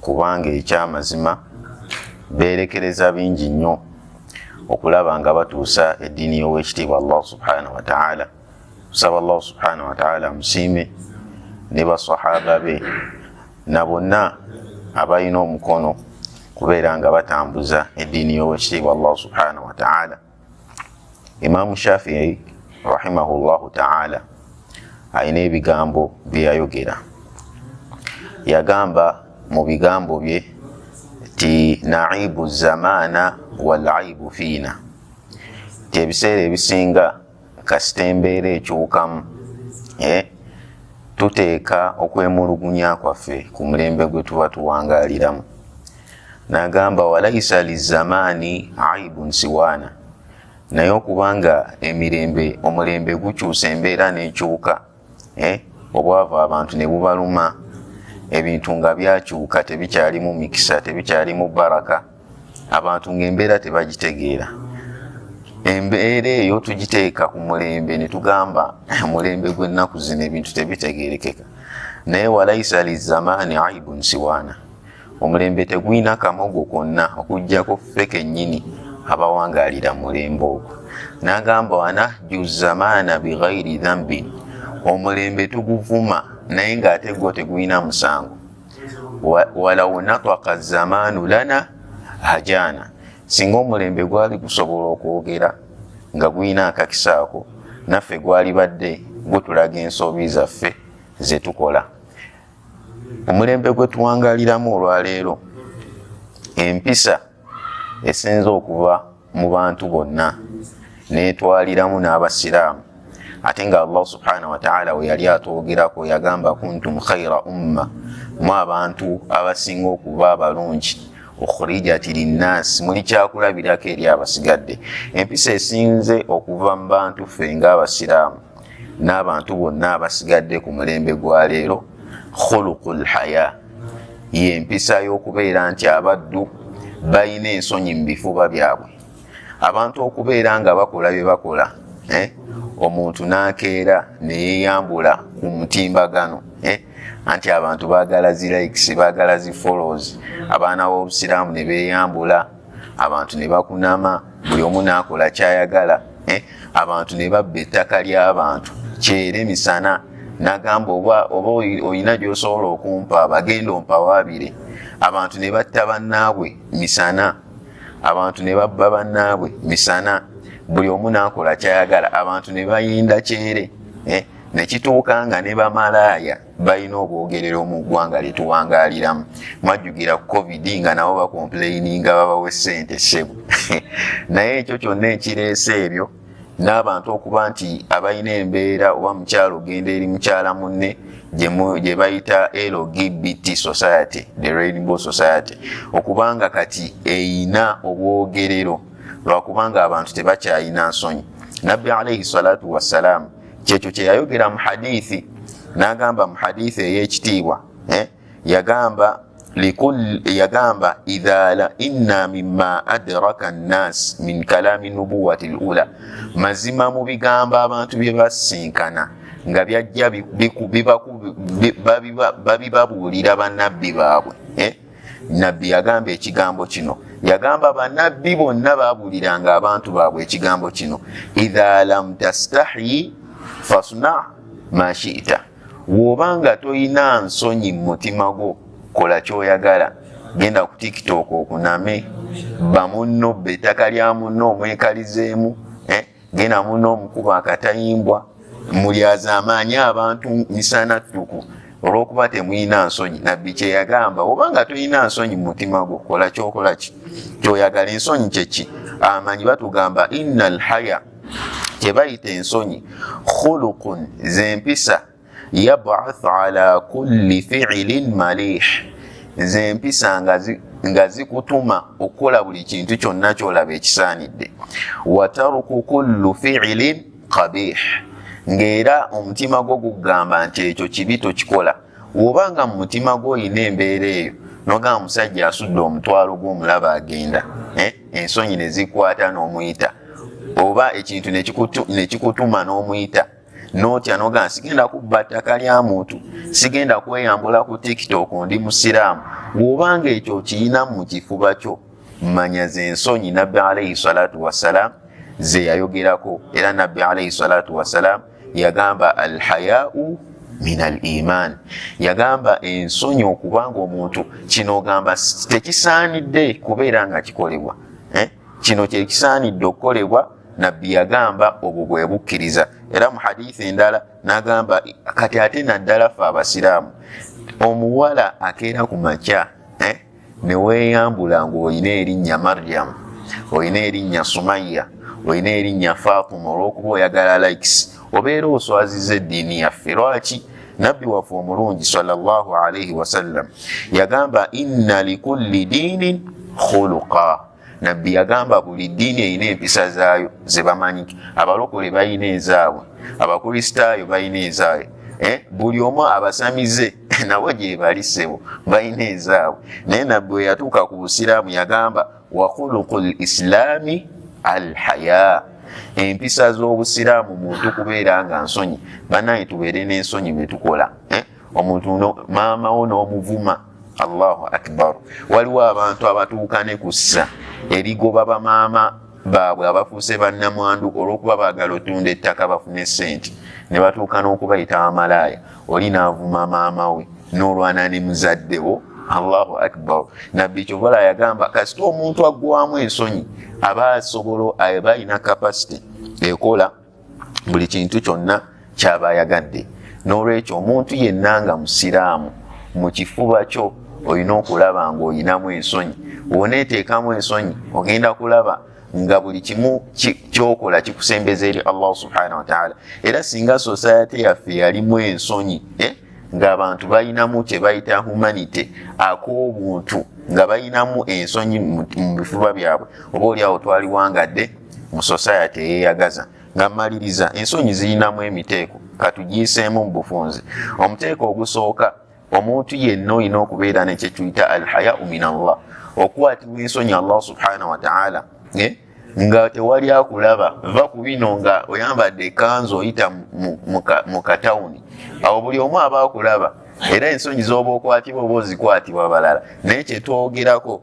kubanga ekyamazima beerekereza bingi nnyo okulaba nga batuusa eddiini y'owekitiibwa allah subhanahu wataala kusaba allah subhanahu wataala amusiime ne basahaba be na bonna abalina omukono kubeera nga batambuza eddiini y'owekitiibwa allah subhanahu wataala Imaamu Shafii rahimahullahu taala alina ebigambo bye yayogera. Yagamba mu bigambo bye ti naibu zamaana wal aibu fiina, ti ebiseera ebisinga kasita embeera ekyukamu eh, tuteeka okwemulugunya kwaffe ku mulembe gwe tuba tuwangaliramu nagamba walaisa lizamaani aibun siwaana naye okubanga emirembe omulembe gukyusa embeera nekyuka eh, obwavu abantu ne bubaluma ebintu nga byakyuka tebikyalimu mikisa tebikyalimu baraka abantu ngaembeera tebagitegeera embeera eyo tugiteeka ku mulembe ne tugamba eh, mulembe gw'ennaku zino ebintu tebitegeerekeka naye walaisa lizamaani aibun siwaana omulembe tegulina kamogo konna okujjako ffe kennyini abawangaalira mulembe ogwo n'agamba wana juzamaana bighairi dhambin omulembe tuguvuma naye ng'ate gwo tegulina musango walaw nataka zamaanu lana hajaana singa omulembe gwali gusobola okwogera nga gulina akakisaako naffe gwalibadde gutulaga ensobi zaffe zetukola omulembe gwe tuwangaliramu olwaleero empisa esinza okuva mu bantu bonna netwaliramu n'abasiraamu ate nga allah subhanahu wataala we yali atwogerako yagamba kuntum khaira umma mu abantu abasinga okuba abalungi okhurijati linnaasi muli kyakulabirako eri abasigadde empisa esinze okuva mu bantu ffe ng'abasiraamu n'abantu bonna abasigadde ku mulembe gwa leero khuluku lhaya yempisa y'okubeera nti abaddu balina ensonyi mu bifuba byabwe abantu okubeera nga bakola bye bakola eh, omuntu n'akeera neyeyambula ku mutimbagano eh, anti abantu bagala zi likes bagala zi follows abaana b'obusiraamu ne beyambula abantu ne bakunama buli omu n'akola kyayagala eh? abantu ne babba ettaka ly'abantu kyera emisana nagamba oba oba olina gy'osobola okumpa bagenda ompawaabire abantu ne batta bannaabwe misana abantu ne babba bannaabwe misana buli omu n'akola kyayagala abantu ne bayinda kyere eh? ne kituuka nga ne bamalaaya balina obwogerero mu ggwanga lyetuwangaliramu mwajjugira ku covid nga nabo bakomplaininga babawa esente sebo naye ekyo kyonna ekireese ebyo n'abantu okuba nti abalina embeera oba mukyalo ogenda eri mukyala munne gye bayita lgbt society the rainbow society okubanga kati eyina obwogerero lwakubanga abantu tebakyayina nsonyi nabbi alaihi salatu wassalaamu kyekyo kyeyayogera mu hadithi nagamba mu hadithi eyekitiibwa eh? yagamba yagamba idhala inna mima adraka nnas min kalami nubuwati lula mazima mu bigambo abantu bye basinkana nga byajja babibabuulira banabbi baabwe eh? nabbi yagamba ekigambo kino yagamba banabbi bonna babuuliranga abantu baabwe ekigambo kino idha lam tastahi fasna mashita woba nga tolina nsonyi mu mutima gwo kola kyoyagala genda ku tiktok okuname bamunno be ettaka lya munno omwekalizeemu genda muna omukuba akatayimbwa mulyazaamaanyi abantu misana ttuku olwokuba temulina nsonyi nabbi kyeyagamba oba nga tolina nsonyi mumutima gwo kola kyokola ki kyoyagala ensonyi kyeki amanyi batugamba ina lhaya kyebayita ensonyi khulukun zempisa yabath ala kulli fiilin malih nze empisa nga zikutuma okukola buli kintu kyonna kyolaba ekisaanidde wataruku kullu fiilin qabih ngaera omutima gwo gugamba nti ekyo kibi tokikola woba nga mu mutima gwo olina embeera eyo nogamba musajja asudde omutwalo gwomulaba agenda eh, ensonyi nezikwata nomuyita oba ekintu nekikutuma nomuyita notya noga sigenda kubba ttaka lya muntu sigenda kweyambula ku tiktok ndi musiraamu bw'obanga ekyo okiyina mu kifuba kyo manya ze nsonyi nabbi alaihi salatu wassalaamu ze yayogerako era nabbi alaihi salatu wassalaamu yagamba alhayau min al iman yagamba ensonyi okubanga omuntu kino ogamba tekisaanidde kubeera nga kikolebwa eh? kino kyekisaanidde okukolebwa nabbi yagamba obwo bwe bukkiriza era mu hadithi endala nagamba kati ate naddala fe abasiraamu omuwala akeera ku makya eh, neweyambula ngaolina erinnya mariyamu olina erinnya sumayya olina erinnya faatuma olwokuba oyagala likes obeera oswaziza eddiini yaffe lwaki nabbi waffe omulungi salllah alaihi wasallam yagamba inna likulli diinin khuluqa nabbi yagamba buli ddiini erina empisa zaayo zebamanyi abalokole balina ezaabwe abakristaayo balina ezaabwe eh, buli omu abasamize nabo gyebalisebo balina ezaabwe naye nabbi weyatuuka ku busiraamu yagamba wakhuluqu lislaami alhaya empisa z'obusiraamu muntu kubeera nga nsonyi banaye tubeere n'ensonyi bwetukola eh? omuntu maamawo n'omuvuma allahu akbar waliwo abantu abatuuka ne kussa erigoba bamaama baabwe abafuuse bannamwandu olw'okuba baagala otunda ettaka bafune ssente ne batuuka n'okubayita amalaaya oli navuma maama we nolwana ne muzadde wo allahu akbar nabbi kyobola yagamba kasita omuntu aggwamu ensonyi aba asobolo aba alina kapasite ekola buli kintu kyonna kyaba ayagadde n'olwekyo omuntu yenna nga musiraamu mu kifuba kyo olina okulaba ng'olinamu ensonyi woneeteekamu ensonyi ogenda kulaba nga buli kimu kyokola kikusembeza eri allah subhanahu wataala era singa sosayate yaffe yalimu ensonyi eh? ngaabantu balinamu kyebayita humanity ak'obuntu nga balinamu ensonyi mu bifuba byabwe oba oli awo twaliwangadde mu sosayate eyeyagaza nga maliriza ensonyi zirinamu emiteeko katugiiseemu mu bufunzi omuteeko ogusooka omuntu yenna olina okubeera nekyekyuyita alhayau min allah okwatibwa ensonyi allah subhanahu wataala eh? nga tewali akulaba va ku bino nga oyambadde ekanzu oyita mu katawuni awo buli omu aba akulaba era ensonyi zoba okwatibwa oba ozikwatibwa balala naye kyetwogerako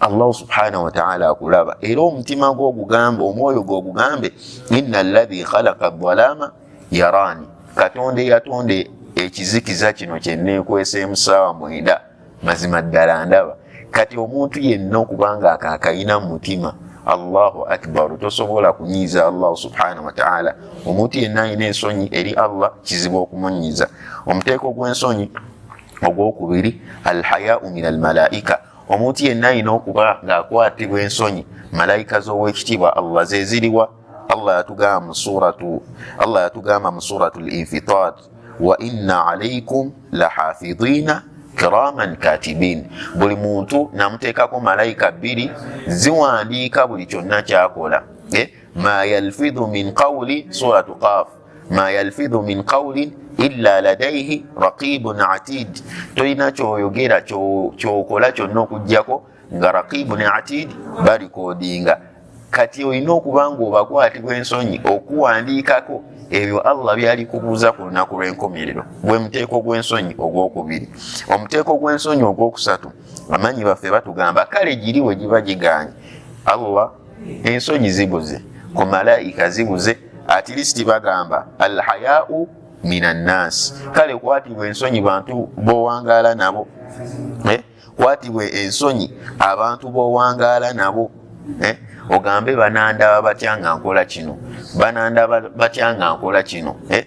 allahu subhanahu wataala akulaba era omutima gwo ogugambe omwoyo gwo ogugambe ina lahi khalaka dhalama yaraani katonda eyatonda ekizikiza kino kyeneekweseemu saawa mwenda mazima ddala ndaba kati omuntu yenna okubanga akakayina mu mutima allahu akbaru tosobola kunyiiza allahu subhanahu wataala omuntu yenna alina ensonyi eri allah kizibu okumunyiiza omuteeko gw'ensonyi ogwokubiri alhayau min almalaika omuntu yenna alina okuba ng'akwatibwa ensonyi malaika z'owekitiibwa allah zeziriwa allah yatugamba mu suratu allah yatugamba mu suratu linfitar wa inna alaikum lahafidina kiraman katibin buli muntu namuteekako malaika bbiri ziwandiika buli kyonna kyakola eh? ma yalfidhu min qawli suratu qaf ma yalfidhu min qawlin illa ladaihi raqibun atid tolina kyoyogera kyokola kyonna okugjako nga raqibun atid balikodinga kati olina okuba nga obakwatibwa ensonyi okuwandiikako ebyo allah byali kubuuza ku lunaku lw'enkomerero gwe muteeko gw'ensonyi ogwokubiri omuteeko gw'ensonyi ogwokusatu amanyi baffe batugamba kale giri we giba giganye allah ensonyi zibuze ku malaika zibuze at least bagamba alhayau min annas kale kwatibwa ensonyi bantu bowangaala nabo eh? kwatibwa ensonyi abantu bowangaala nabo eh? ogambe banandaba batya nga nkola kino banandaba batya nga nkola kino eh?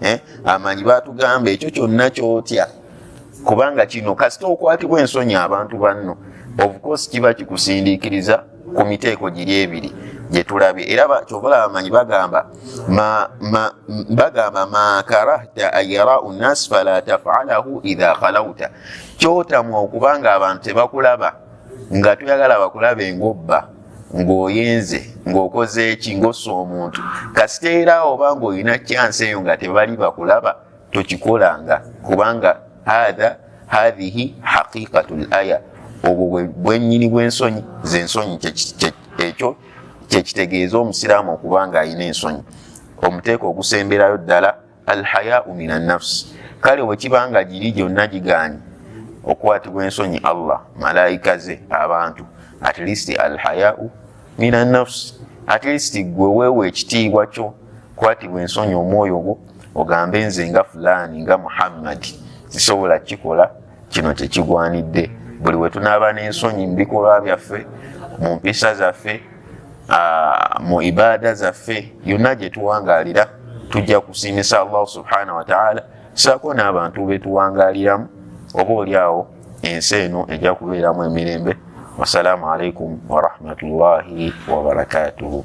eh, amanyi batugamba ekyo kyonna kyotya kubanga kino kasita okwatibwa ensonyi abantu banno obukosi kiba kikusindiikiriza ku miteeko giri ebiri gyetulabye era kyovala bamanyi bagamba bagamba makarahta ayarau nas fala tafalahu idha khalauta kyotamwa okubanga abantu tebakulaba nga tuyagala bakulaba engobba ng'oyenze ng'okoze eki ng'ossa omuntu kasita era oba ng'olina kyansi eyo nga tebali bakulaba tokikolanga kubanga hatha hathihi haqiqatu l aya obwo bwennyini bw'ensonyi z'ensonyi ekyo kyekitegeeza omusiraamu okuba ng'alina ensonyi omuteeko ogusemberayo ddala alhayau min annafsi kale wekiba nga giri gyonna gigaanyi okukwatibwa ensonyi allah malaika ze abantu at least alhayau min annafsi at least gwe weewa ekitiibwa kyo kwatibwa ensonyi omwoyo gwo ogambe nze nga fulaani nga muhammadi sisobola kikola kino tekigwanidde buli wetunaaba n'ensonyi mu bikolwa byaffe mu mpisa zaffe mu ibaada zaffe yonna gye tuwangaalira tujja kusiimisa allahu subhanahu wataala saako n'abantu betuwangaaliramu oba oli awo ensi eno ejja kubeeramu emirembe wassalaamu alaikum warahmatullahi wabarakatuhu